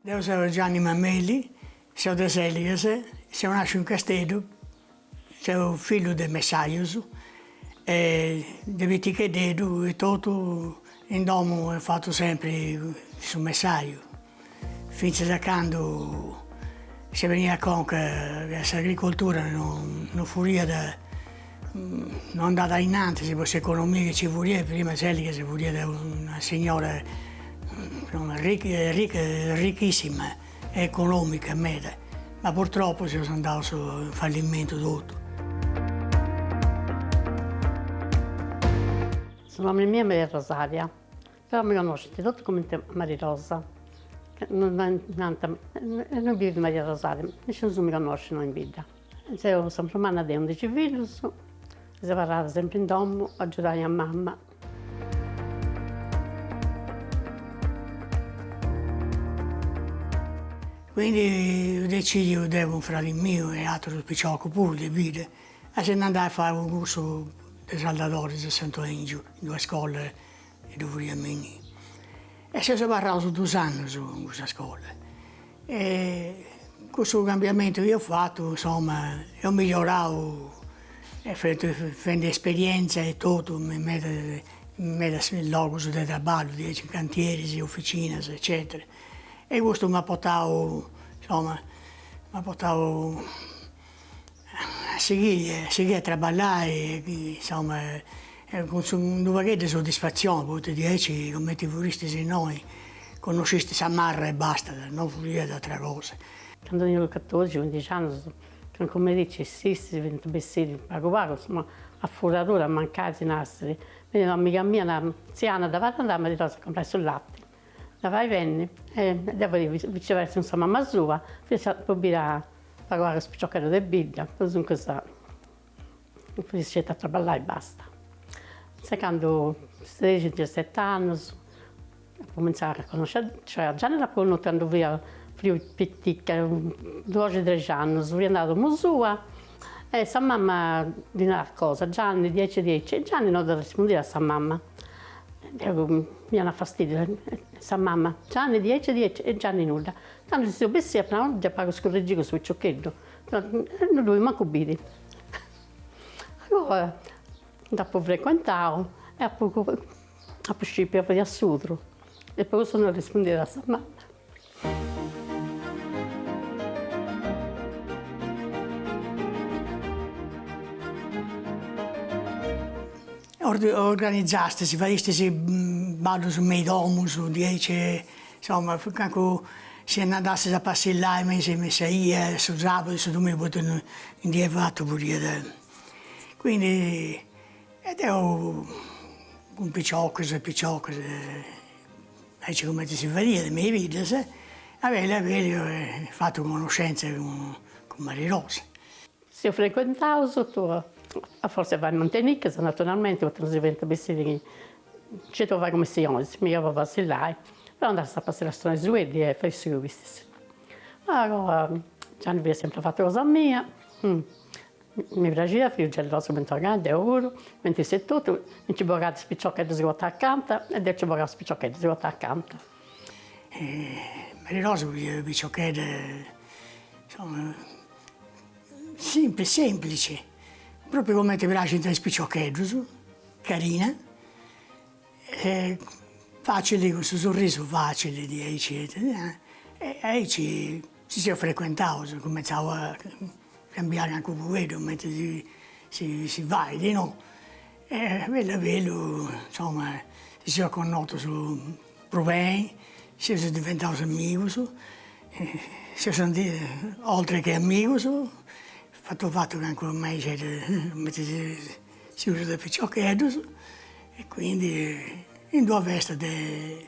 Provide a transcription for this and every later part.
Deu seu Gianni Mameli, seu de Seligas, seu nasciu in Casteddu, seu fillu de messajus e de piticheddeddu etotu in domu eus fatu sempri su messaju Fintzas a candu si beniat a conca ca s'agricoltura non furiat, non andat a innantis po s'economia chi ci furiat, prima Seligas furiat una signora arrichissima e economica meda, ma purtroppo seus andaus in fallimentu totu. Su nomini miu est Maria Rosaria. Però mi connoscint totu comenti Mari Rosa, nant, innui bivit Maria Rosaria, nisciunus mi connoscit innoi in bidda. Seu sa prus manna de undixi fillus, mi seu abarrada sempri in domu a agiudai a mama. Quindi eus decidiu deu cun fradi miu e aterus piciocus puru de bidda a si ndi andai a fai unu cursu de saldadoris a Santu Aingiu in d'una scola E ddu furiat innì. E seus abarraus dus annus in cussa scola. E cussu cambiamentu chi eus fatu, insoma, eus migliorau fendi esperienza e totu in medas in medas logus de traballu, diaici in cantieris, officinas, eccetera. E custu m'at portau, insoma, m'at portau A sighiri, a sighiri a traballai insoma cun su unu pagheddu 'e soddisfatzioni poita diaici cumenti furistis innoi connoscistis sa marra e basta, no furiat atra cosa. Candu tenia catorixi cuindixi annus, cancu merici s'istis fint bessidi pagu pagu insoma a furadura, mancai si narat, beniat un'amiga mia, narat, tzia Anna, dda fait andai a Mari Rosa a comporai su latti. Dda fait benni e deu poi viceversa cun sa mamma sua fiat po biri a pagu pagu is piciocheddus de bidda po duncas fiat sceti a traballai e basta. Finzas candu sexi dixeseti annus apu comintzau a connosci a cioè a Gianni dd'apu connotu candu fia prus pitica doxi trexi annus fia andada a domu sua E sa mama ddi narat cosa, Gianni diaici diaici, e Gianni no dda arrespundiat a sa mama, deu mi donat fastidiu, sa mama, Gianni diaici diaici, e Gianni nudda, tando ci seu bessìa apu nau, già pagu scurregiu su piciocheddu, e no ddu bolia mancu biri. Allora dd'apu frecuentau e apu scipiu ca fiat sudru e po custu no arrespundiat a sa mama organizastis, fadistis ballus me is domus diaici, insoma calincunu si andastis a passillai me in sa 'ia su sabudu e su dominigu poita in dì 'e fatu podiat, quindi e deu cun piciocus e piciocas aici cumenti si fadiat me is biddas, a bellu a bellu apu fatu conoscenza cun Mari Rosa. Si seus frecuentaus sotto a fortza fai manteniccas naturalmenti poita non si fadiant bessiri nci torru a fai cumissioni mi apu a passillai deu andà a passillai a su Nesueddi e fai su chi bistessi. Gianni fiat sempri fatu cosa mia Mi praxiat fiu gelosu cun Togà, deu puru, mentis etotu mi nci bogàt is piciocheddus chi potàt acanta e deu nci bogà is piciocheddus chi potàt acanta. Mari Rosa fiat una piciochedda insoma simpli semplici, propriu cumenti praxint a is piciocheddus, carina e facili cun su sorrisu facili diaici e aici Si seus frecuentaus, cumentzau a cambiai calincunu fueddu cumenti si fait, no? E bellu a bellu, insoma, si seus connotus prus beni, seus diventaus amigus, seus andaus oltre che amigus, fatu fatu calincunu amixeddu cumenti s'usat de piciocheddus e quindi in d'una festa de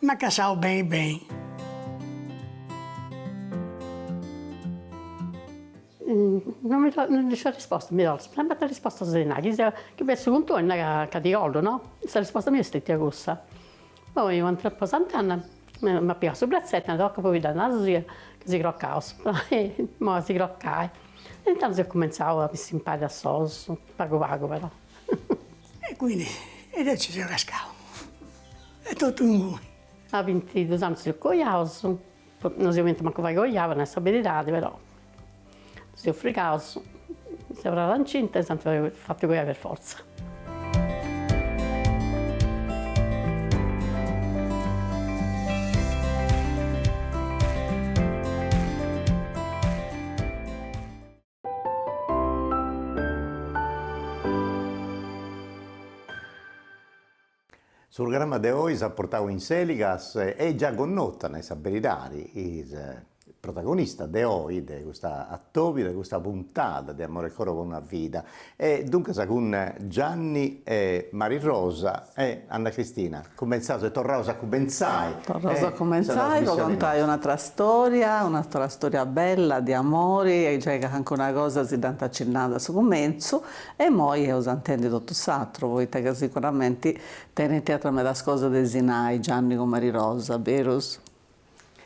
M'at cassau beni beni. No mi no ndi sa risposta mi torras, sempri sa risposta si nai, chi sia chi fessit cun tui nai ca ti collu no, sa risposta mia est stetia cussa. Poi u' atera po Sant'Anna m'at pigau su brazzettu e nau, toca puru chi dda naras sia ca si crocaus, imoi a si crocai. E intandus eus cumenzau a bessì impari a solus, pagu pagu però E quindi e deu ci seu cascau e totu inguni. A bintidus annus si seus coiaus, no si boliant mancu fai coiai po nai sa beridadi, però ddus eus frigaus, est abarrada incinta e s'ant fatu coiai per fortza. Su programma de oi s'at portau in Seligas e già connota, nai sa beridadi, is protagonistas de oi de custa atòbia de custa puntada de Amore e Coro po una vida. E duncas cun Gianni e Mari Rosa e Anna Cristina cumentzaus e torraus a cumentzai Torraus a cumentzai po contai un'atra storia, un'atra storia bella de amori e giai ca cancuna cosa si dd'ant acinnada a su cumentzu e imoi eus a intendi totu s'atru poita ca sicuramenti tenint atra medas cosas de si nai Gianni cun Mari Rosa, berus?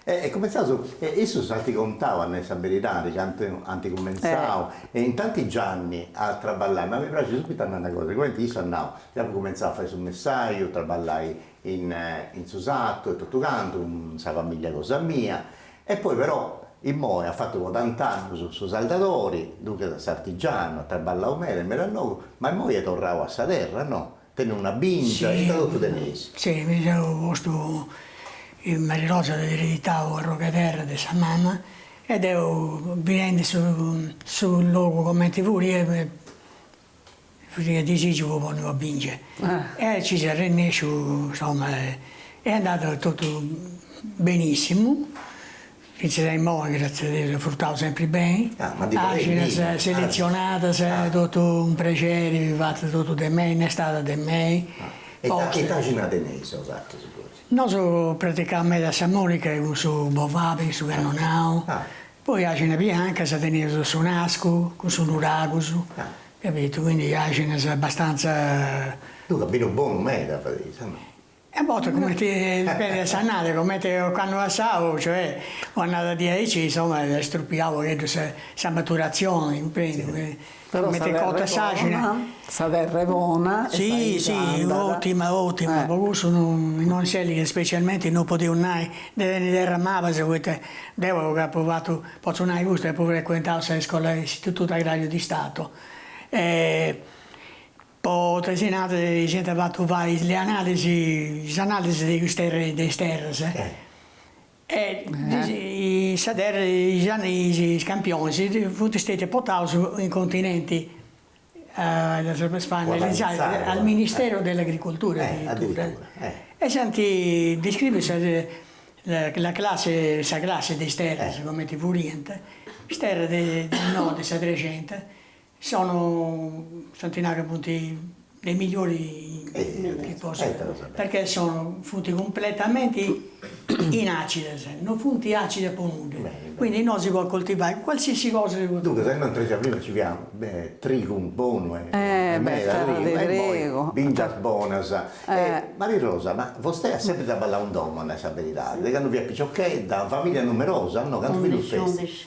E cumentzaus, e issus ant contau, a nai sa beridadi, candu ant cumentzau, e intantis Gianni a traballai, ma mi praxit subitu a nai una cosa, cumenti issu at nau, deu apu cumentzau a fai su messaju, traballai in in su sartu e totu cantu, cun sa familia cosa mia, e poi però immoi at fatu po tant'annus su saldadori, duncas s'artigianu, at traballau meda e meda logu, ma immoi est torrau a sa terra, no Tenit una bingia, est totu teneis. Si, mi seu postu in Marirosa, at ereditau un'arrogu 'e terra de sa mama e deu bidendi su su logu comenti furia mi furia disigiu po ponni una bingia e ci seu arrennesciu insomma est andada totu benissimu Fintzas a imoi, gràtzias a Deus, at frutau sempri beni, àxinas seletzionadas, totu un prexeri, bi fat totu de mei, inn'estada de mei. E ita àxina teneis bosatrus gosi? Nosu praticaus meda sa monica cun su bovali, su cannonau, poi àxinas biancas, teneus su nascu cun su nuragus, capitu, quindi àxinas abbastanza. Duncas binu bonu meda fadeis, o no? A bortas cumenti dipendit de s'annada, cumenti occannu passau, cioè, un'annada diaici, insoma, est strupiau unu pagheddu sa sa maturatzioni, cumprendi. Però sa terra è bona, sa terra è bona e sa 'idi si andat. Si, otima, otima, po cussu non non s'ellighet specialmenti, non podeus nai de tenni terras mabas, poita deu apu apu fatu, potzu nai custu, apu frecuentau sa iscola, s'Istitutu Agrariu di Stato e Po tesina si ant fatu fai is leanalis, is analisi de is terras, de is terras, e sa terra, is campionis funt stetius portaus in continenti, ddus funt analizaus al ministeru de s'agricultura addirittura, e s'ant descriviu sa la classi, sa classi de is terras, cumenti furiant, is terras de innoi de sa Trexenta, Sono, s'ant nai ca funti de is migliori chi po perchè sono funti cumpletamenti inacidas, non funti acide po nudda, quindi innoi si podit coltivai qualsiasi cosa si podit Duncas innoi in Trexenta prima nci fiat trigu bonu e meda trigu e poi bingias bonas e Marirosa ma vostè at sempri traballau in domo a nai sa beridadi de candu fiat piciochedda, familia numerosa no cantu fillus festis?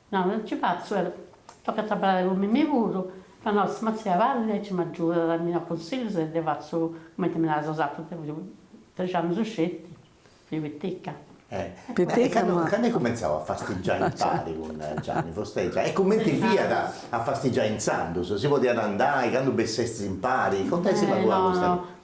Nau, non ci fatzu, però, tocat a abarrai cun mimmi puru, ca nois si matzia parrit aici m'agiudat, mi dat consillus e deu fatzu cumenti mi narais osatrus, deu fiu trexi annus sceti, fiu piticca. Candu at cumentzau a fastigiai impari cun Gianni fostei già e cumenti fiat a fastigiai intzandus, si podiat andai, candu bessestis impari, contaisila tui a custa.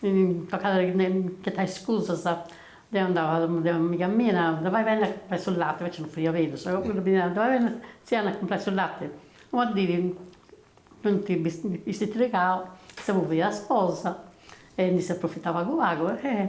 Mi toccat a ghetai iscusas, deu andau a domu de un'amiga mia e nau, dda fai benni a cumporai su lati, invecias non fiat berus, sa cocchedda mi narat, dda fai benni tzia a andai a cumporai su lati, una dì funt bistitiligau, issa puru fiat sposa e ndi seu aprofitau pagu pagu e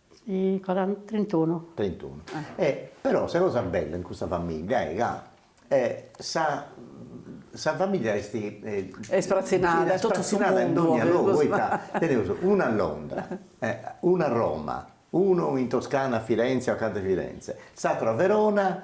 Trintunu. Trintunu. E però sa cosa bella in custa famiglia est ca sa sa famiglia est ispratzinada in dònnia logu poita teneus una a Londra e unu a Roma, unu in Toscana a Firenze o acanta 'e Firenze, s'aturu a Verona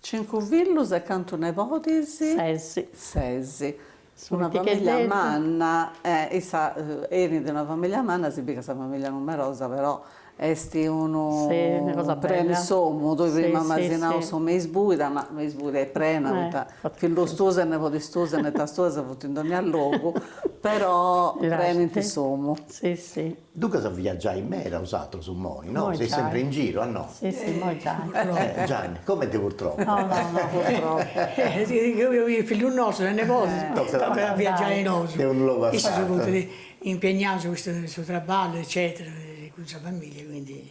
Cincu fillus e cantu nebodis? Ses. Ses. Una famiglia manna, eh, issa 'enit de una famiglia manna, si bit ca sa famiglia numerosa però est unu preni s'omu, tui prima m'asi nau s'omu est isbuida, ma 'omu isbuida est prena poita fillus tuus e nebodis tuus e netas tuas funt in dogna logu, però prenint s'omu. Duncas viaggiais meda usatrus moi no, seis sempre in giro a no? Si si moi giai. Gianni, comenti purtroppu. No no no purtroppu. Is fillus nostus e nebodis tocat a viaggiai nosu. De unu logu a s'atru. Issus funt impegnaus cun su traballu eccetera cun sa familia quindi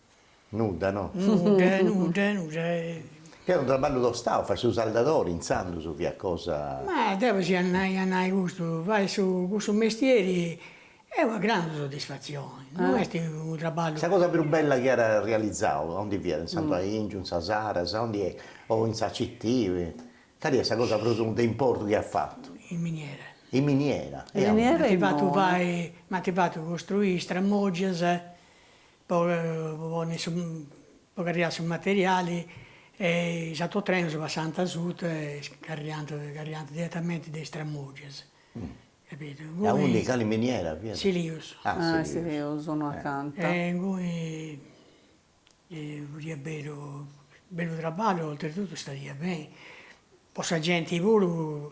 Nudda no? Nudda nudda nudda e. Ca est unu traballu tostau, fai su saldadori intzandus fiat cosa. Ma deu si a nai a nai custu, fai su cussu mestieri est una grandu soddisfatzioni, no est unu traballu. Sa cosa prus bella chi at realizau a ondi fiat, in Santu Aingiu, in sa Saras, a ondi est, o in sa CT, cali est sa cosa prus de importu chi at fatu? In miniera. In miniera. In miniera e in. M'ant fatu fai, m'ant fatu costruì is tramògias po ponni su po carriai su materiali e is autotrenus passant asuta e carriant carriant diretamenti de is tramogias capitu e innui in cali miniera fiat? Silius ah silius innoi acanta e inguni fadiat bellu bellu traballu oltretutu istadiat beni po sa genti puru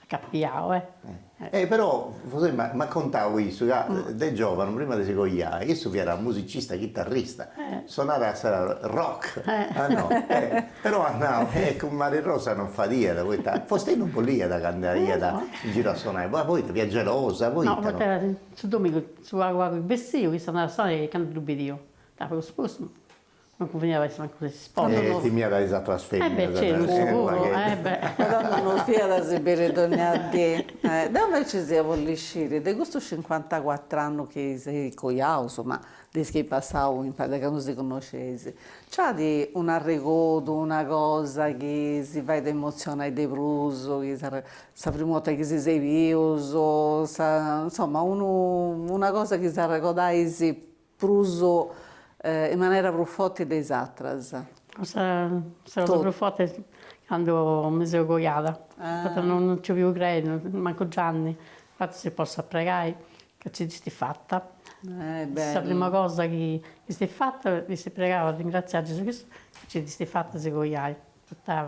Capiau, e. E però m'at contau issu, ca de giovanu, prima de si coiai, issu fiat musicista chitarrista, sonarat a sa rock, ah no, e però at nau, e cun Maria Rosa non fadiat, poita fostei non bolliat ca andaiat in giru a sonai, poita fiat gelosa, poita. No, poita su dominigu, su pagu pagu chi bessiu, issu andàt a sonai candu ddu bidiu, ca prus prus. Non cunveniat a essi mancu de s'isposa. E timiat a is atras feminas. E beh, siguru, e beh. Però non fiat a si biri dogna dì. Deu inveces ia bolli sciri, de custus cincuantacuatru annus chi seis coiaus, ma de is chi eis passau imparis, de candu si connosceis, nc'at un'arregodu, una cosa chi si fait emotzionai de prus, chi sa primu 'orta chi si seis bius, sa, insoma, unu, una cosa chi s'arregodais Prus in manera prus forti de is atras. Sa cosa prus forti est candu mi seu coiada, poita no nci fiu creendu, mancu Gianni, infati si possat pregai ca nci dd'istis fata. Sa prima cosa chi istis fata, istis pregau a ringraziai Gesù Cristu ca nci dd'istis fata a si coiai, poita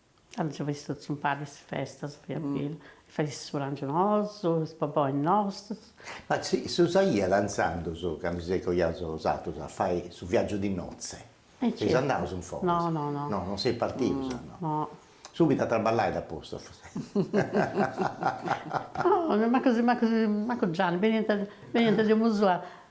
Candu nci faiat totus impari is festas fiat bellu, faiat su prangiu nosu, is bobois nostus. Ma si s'usaiat intzandus candu seis coiaus bosatrus a fai su viagiu di notze? E nci seis andaus in foras? No, no, no. No, non seis partius? No. No. Subitu a traballai dd'at postu forsis. No, mancu mancu Gianni, beniant beniant de domu sua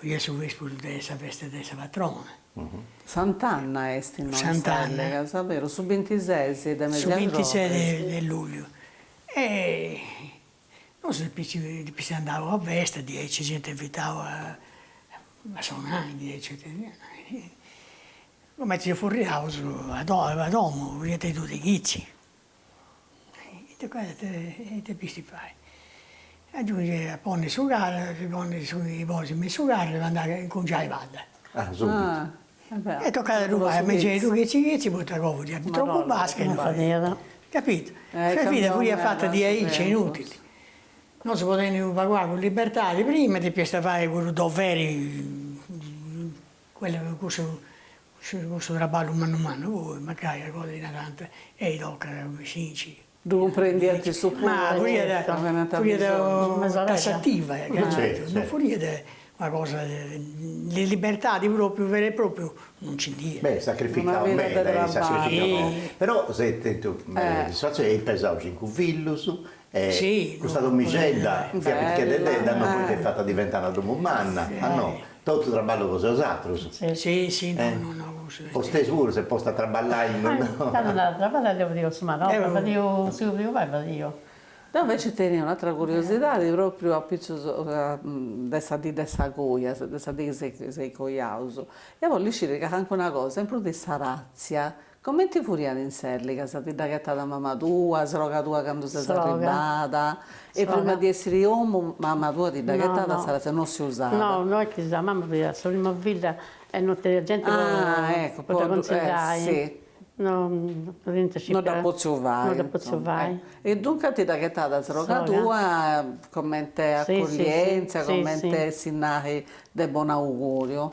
Fiat su vesperu de sa festa de sa patrona. Sant'Anna est innoi Sant'Anna. Sa perus su bintises de mesu Su bintises de lugliu e nosu fistis andaus a festa diaici s'iant invitau a a sonai diaici comente si furriaus a domu fiant is duas de chitzi Ita depisti fai, a giungi a ponni su carru, si ponni su giù 'e bois me in su carru depu andai a incungiai padda. Ah subitu. E tocat a ddu fai a mengianeddu chitzi chitzi poita agoa fadiat tropu basca e non fadiat. Capitu. Sa vida fut fata diaici est inutili. No si podiat unu pagu pagu libertadi prima depiast fai cuddu doveri Quellu cussu cussu traballu mannu mannu poi mancai a cosa ti narant ei tocat cumenti si nci Ddu cumprendiant su tassativa non furiat una cosa de libertadi propriu vera e propriu non nci nd'iat. Beh sacrificau meda però s'est tentu soddisfazioni, eis pesaus cincu fillus E custa domixedda fiat piticheddedda no poi dd'eis fata diventai domu manna, a no, totu traballu cosa 'e bosatrus, fostei puru s'est posta a traballai no no. Candu andàt a traballai deu fadia su manorba, fadia su chi podia fai fadia. Deu inveci tenia un'atra curiosidadi propriu apitzus de sa dì de sa coja, de sa dì chi seis cojaus, ia bolli sciri cancuna cosa in prus de sa ratzia Comenti furiat in s'elliga sa ti dda ghettat mama tua, sroga tua candu ses arribada e prima di essiri 'e omu mama tua ti dda ghettat s'aratzia, no si usat. No, no est chi sa mama fiat sa prima filla e no teniat genti po dda cunsillai, no teniant scipiu. No dd'at potziu fai. No dd'at potziu fai. E duncas ti dda ghettat sroga tua comente accoglienza, comente si nari de bonu auguriu.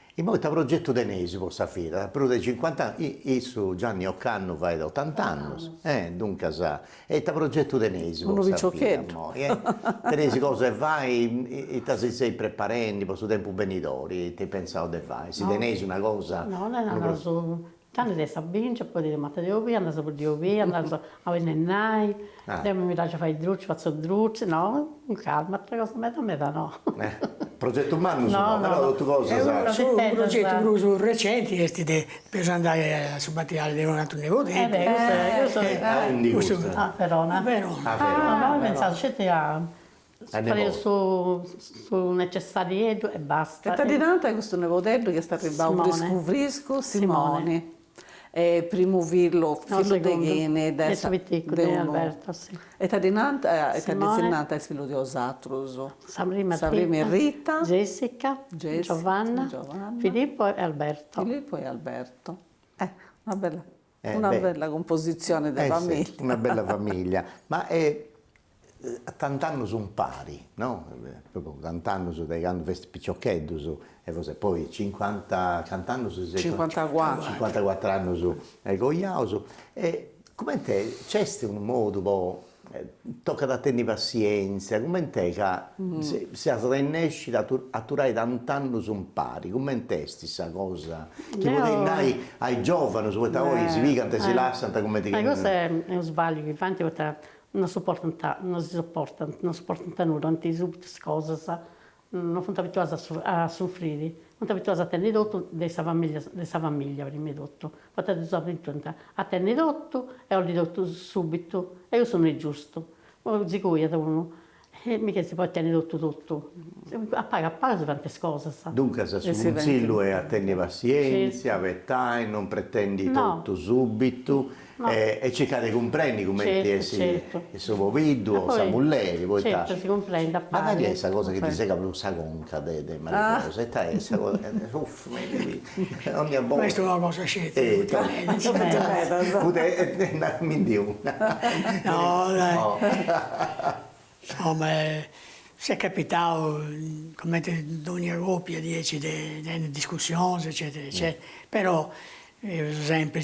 Imoi ita progetu teneis po sa vida? Prus de cincuant'annus issu Gianni ocannu fait ottant'annus e duncas e ita progetu teneis po sa vida imoi e teneis cosa 'e fai ita si seis preparendi po su tempus benidori ita eis pensau de fai si teneis una cosa Tanti ddu est sa bingia, poi matas de obia, andaus a boddiri obia, andaus a binnennai, deu mi praxit a fai is drucis, fatzu drucis, no, cun calma, ateras cosas meda meda no. Progetus mannus no, però totu cosas. Su progetu prus recenti est depeus andai a su batiali de unu ateru nebodeddu. Eh beh, custu, custu, a undi custu? A Verona. A Verona. Però pensaus sceti a Fadeus su su necessarieddu e basta. E ita ddi nant a custu nebodeddu chi est arribbau friscu friscu, Simoni. Primu fillu, fillu de chini? De su piticcu de Alberto, si. E ita ddi nant, e ita ddis nant a is fillus de osatrus. Sa prima est Rita. Jessica. Giovanna. Filippo e Alberto. Filippo e Alberto. Eh, una bella Una bella cumpositzione de famìllia. Una bella famìllia, ma a tant'annus umpari, no, propriu tant'annus de candu festis piciocheddus, e forsis poi cincuanta, cant'annus seis? Cincuantacuatru. Cincuantacuatr'annus coiaus, e cumenti est, nc'est unu modu po Tocat a tenni passièntzia, cumenti est ca seis arrennèscius a aturai tant'annus umpari, cumenti est sa cosa chi podeis nai a is giòvanus, poita oi si pigant e si lassant cumenti chi. Ma custu est unu sbagliu chi faint poita non suportant, non si suportant, non suportant nudda, bolint subitu is cosas No funt abituaus a sufriri, funt abituaus a tenni totu de sa familia prima 'e totu, poita ddus abituant a tenni totu e a 'olli totu subitu, e cussu no est giustu, si coiat unu, e mica si podit tenni totu totu, a pagu a pagu si fant is cosas. Duncas su cunsillu est a tenni passientzia, abetai, non pretendi totu subitu, E circa de cumprendi cumenti est su pobiddu o sa mulleri poita ma cali est sa cosa chi ti segat prus sa conca de de Mariposa ita est sa cosa uff ma ita chi dogna borta. Ma est una cosa sceti poita e naramindi una. No dai insoma s'est capitau cumenti dogna copia diaici de tenni discussionis eccetera eccetera però eus sempri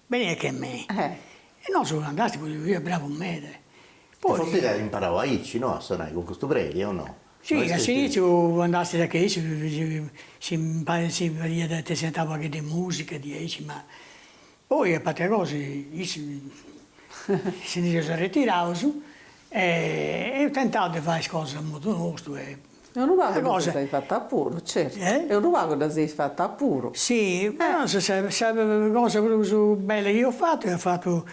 Beni e che me. E nosu Sant'Asticu si fiat bravu meda. E forsis at imparau aici, no, a sonai cun custu predi o no? Si, a s'initziu andastis a che issu si si fadiat ite si antau una paghedda 'e musica diaici ma poi a patria cosa issu si ndi seus arretiraus e eus tentau de fai is cosas a modu nostu e E unu pagu dda seis fata puru, certu. E? E unu pagu dda seis fata puru. Si, però sa sa cosa prus bella chi eus fatu eus fatu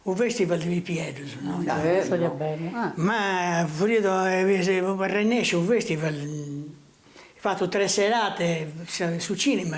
u' festival de pipieddus, no? Bellu. Ma furiat arrennesciu u' festival, fatu tres serate, su cinema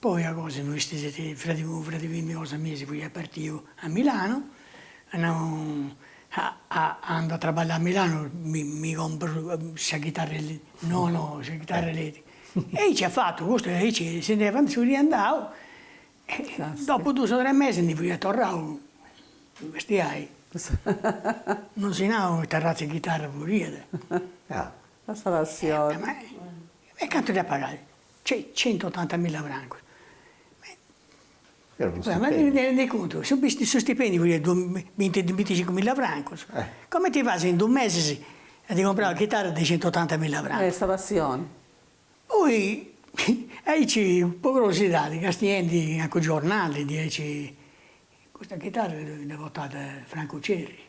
Poi a cosa no istis eti fradi unu fradi femmini cosa mia si fuiat partiu a Milanu, at nau andu a traballai a Milanu mi mi comporu sa chitarra eli, no no sa chitarra eletrica, e aici at fatu custu e aici si nd'est fatu si fiat andau e dopu dus o tres mesis ndi fuiat torrau a bestiai, no si nau ita arratz'e chitarra furiat. Sa passioni. E cantu dd'at pagada? Cioè centottantamilla francus. Rendi contu, su su stipendiu fiat de binti binticincumilla francus, comenti fais in dus mesis a ti comporai una chitarra de centottantamilla francus. Est sa passioni. Poi aici po curiosidadi castiendi in calincunu giornali diaici, custa chitarra dda portat Francu Cerri.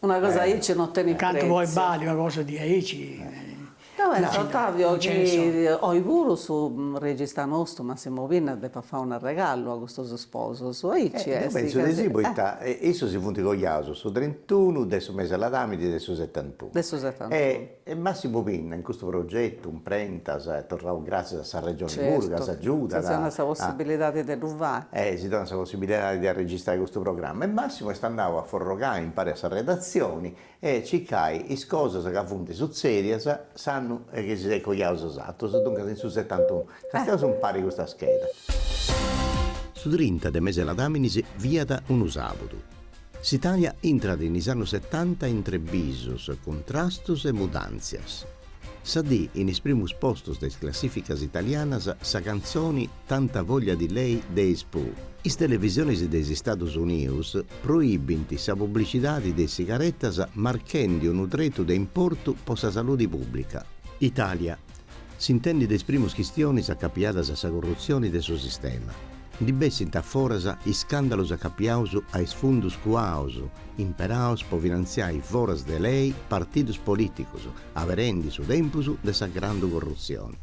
Una cosa aici non tenit pretziu. Cantu podit balli una cosa di aici. Deu pentzu Ottavio chi oi puru su regista nostru Massimo Pinna depat fai un'arregalu a custus sposus, aici est. Deu pentzu de si poita issu si funt coiaus su trentunu de su mesi 'e Ladàmini de su setantunu. De su setantunu. E Massimu Pinna in custu progetu Imprentas e torraus gràtzias a sa Regioni puru ca s'agiudat. Certu, si donat sa possibilidadi de ddu fai. E si donat sa possibilidadi de arregistrai custu programma. E Massimu est andau a forrogai impari a sa redatzioni e cicai is cosas ca funt sutzèdias s'annu chi si seis coiaus bosatrus, duncas in su setantunu. Castiaus impari custa scheda. Su trinta de mesi 'e Ladàminis fiat unu sàbudu. S'Italia intrat in is annus setanta intre bisus, cuntrastus e mudàntzias. Sa dì in is primus postus de is classìficas italianas sa cantzoni Tanta voglia di lei de is Pooh. Is televisionis de is Stadus Unius proibint sa publicidadi de is sigaretas marchendi unu tretu de importu po sa saludi pùbblica. Italia, S'intendit de is primus chistionis acapiadas a sa corrutzioni de su sistema. Ndi bessint a foras iscàndalus acapiaus a is fundus cuaus imperaus po finantziai foras de lei partidus polìticus, aberendi su tempus de sa grandu corrutzioni.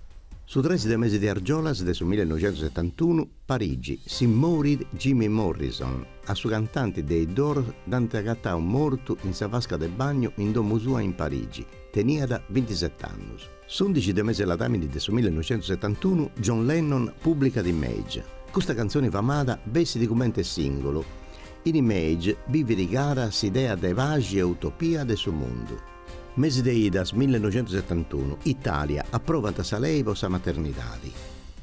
Su tres de mesi de argiolas de su millenoixentusetantunu, Parigi, si morit Jimmy Morrison, a su cantanti de is Doors dd'ant agatau mortu in sa vasca de bagnu in domu sua in Parigi, Teniat bintisete annus. S'undixi de mesi 'e ladàmini de su millenoixentusetantunu John Lennon pùblicat Imagine. Custa cantzoni famada bessit cumenti sìngulu. In Imagine bivit cara s'idea de paxi e utopia de su mundu. Mesi de idas millenoixentusetantunu, Itàlia, aprovat sa lei po sa maternidadi.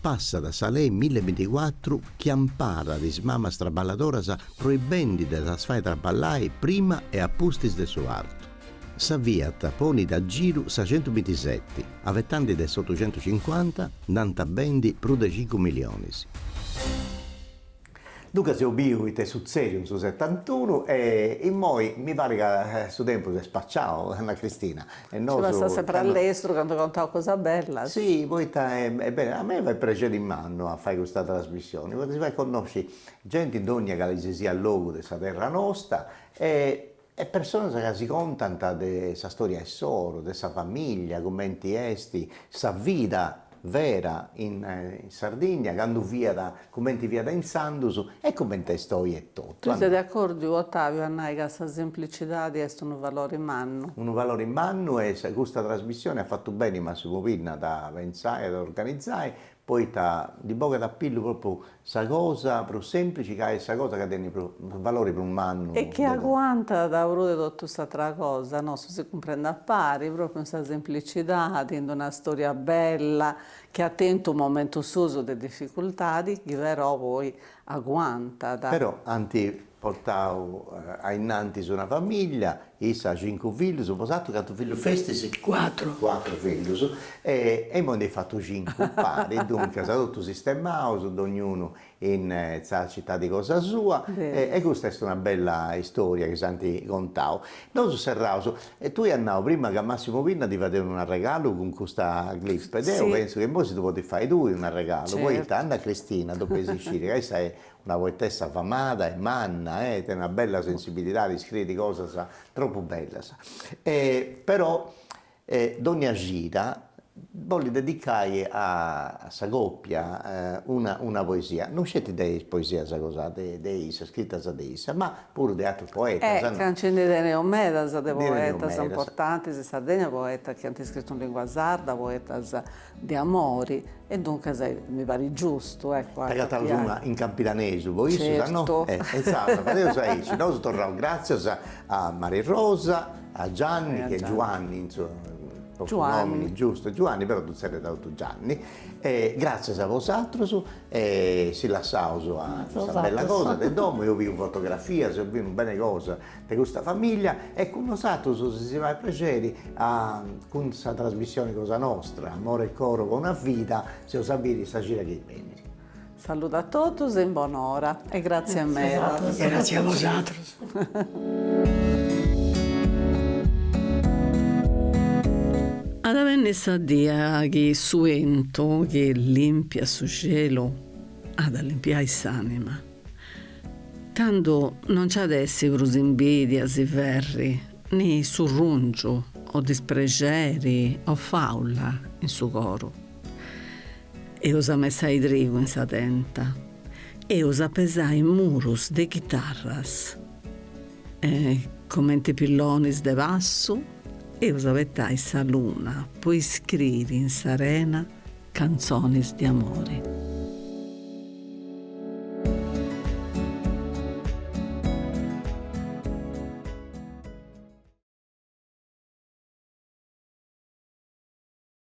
Passat sa lei mille e binticuatru chi amparat is mamas traballadoras proibendi de ddas fai traballai prima e apustis de su partu. Sa Fiat ponit a giru sa centu bintiseti, afatanti de s'otucentucincuanta, nd'ant a bendi prus de cincu milionis. Duncas eus biu ita est sutzèdiu in su setantunu e immoi mi parit ca su tempus est spaciau, Anna Cristina, e nosu. Nci passat sempri a lestru candu contaus cosas bellas. Si, poita est beni, a mei fait prexeri mannu a fai custa trasmissioni, poita si fait connosci genti in dogna calisisiat logu de sa terra nosta e e personas ca si contant de sa storia insoru, de sa famìllia, cumenti est sa vida vera in Sardigna, candu fiat, cumenti fiat intzandus e cumenti est oi etotu. Tui ses de acordu, Otaviu, a nai ca sa semplicidadi est unu valori mannu? Unu valori mannu e custa trasmissioni at fatu beni, Massimu Pinna, a dda pentzai e a dda organizai, poita ndi bogat a pillu propriu sa cosa prus semplici ca est sa cosa ca tenit su valori prus mannu. E chi aguantat prus de totu s'atra cosa, no, su si cumprendi a pari, propriu in sa semplicidadi, in una storia bella chi at tentu momentus suus de difficultadi chi però poi aguantat. Però ant Portau a innantis una famìllia, issa cincu fillus, bosatrus cantu fillus festis? Cuatru. Cuatru fillus, e imoi nd'eis fatu cincu pari, duncas totus sistemaus, dognunu in sa citadi cosa sua, e custa est una bella istoria chi s'ant contau. Nosu serraus, tui as nau prima ca Massimo Pinna ddi fadeus un arregalu cun custa clip, deu pentzu ca imoi si ddu podis fai tui un arregalu, poita Anna Cristina, depeis sciri ca issa est Una poetessa famada e manna tenit una bella sensibilidadi, scriit cosas tropu bellas. E però dònnia cida bolit dedicai a sa còpia una una poesia, non sceti de is poesias cosa de de issa, scritas de issa, ma puru de atrus poetas. Ca nci ndi teneus medas de poetas importantis in Sardigna, poetas chi ant scritu in lìngua sarda, poetas De amori, e duncas mi parit giustu, ecco, a. T'agatas una in campidanesu po issu, no. Certu. E insaras fadeus aici, nosu torraus gratzias a Mari Rosa, a Gianni, chi est Giuanni insomma su nomini giustu est Giuanni però ddu zerriant totus Gianni, e gratzias a bosatrus e si lassaus a custa bella cosa de domo, eus biu fotografias, eus biu unu bene cosa de custa famiglia e cun nosatrus si si fait prexeri a cun sa trasmissioni cosa nostra amore e coro po una vida s'eus a biri sa cida chi benit. Saludo a totus e in bon'ora e gratzias meda. Gratzias a bosatrus. At a benni sa die chi su 'entu chi limpiat su cielu at a limpiai s'anima. Tando non nci at essi prus imbìdias e ferri, ni surrùngiu o disprexeri o fàula in su coru. Eus a messai trigu in sa tenta, eus a pesai murus de chitarras e, comenti pillonis de passu, eus a abetai sa luna po iscriri in s'arena Cantzonis de amore.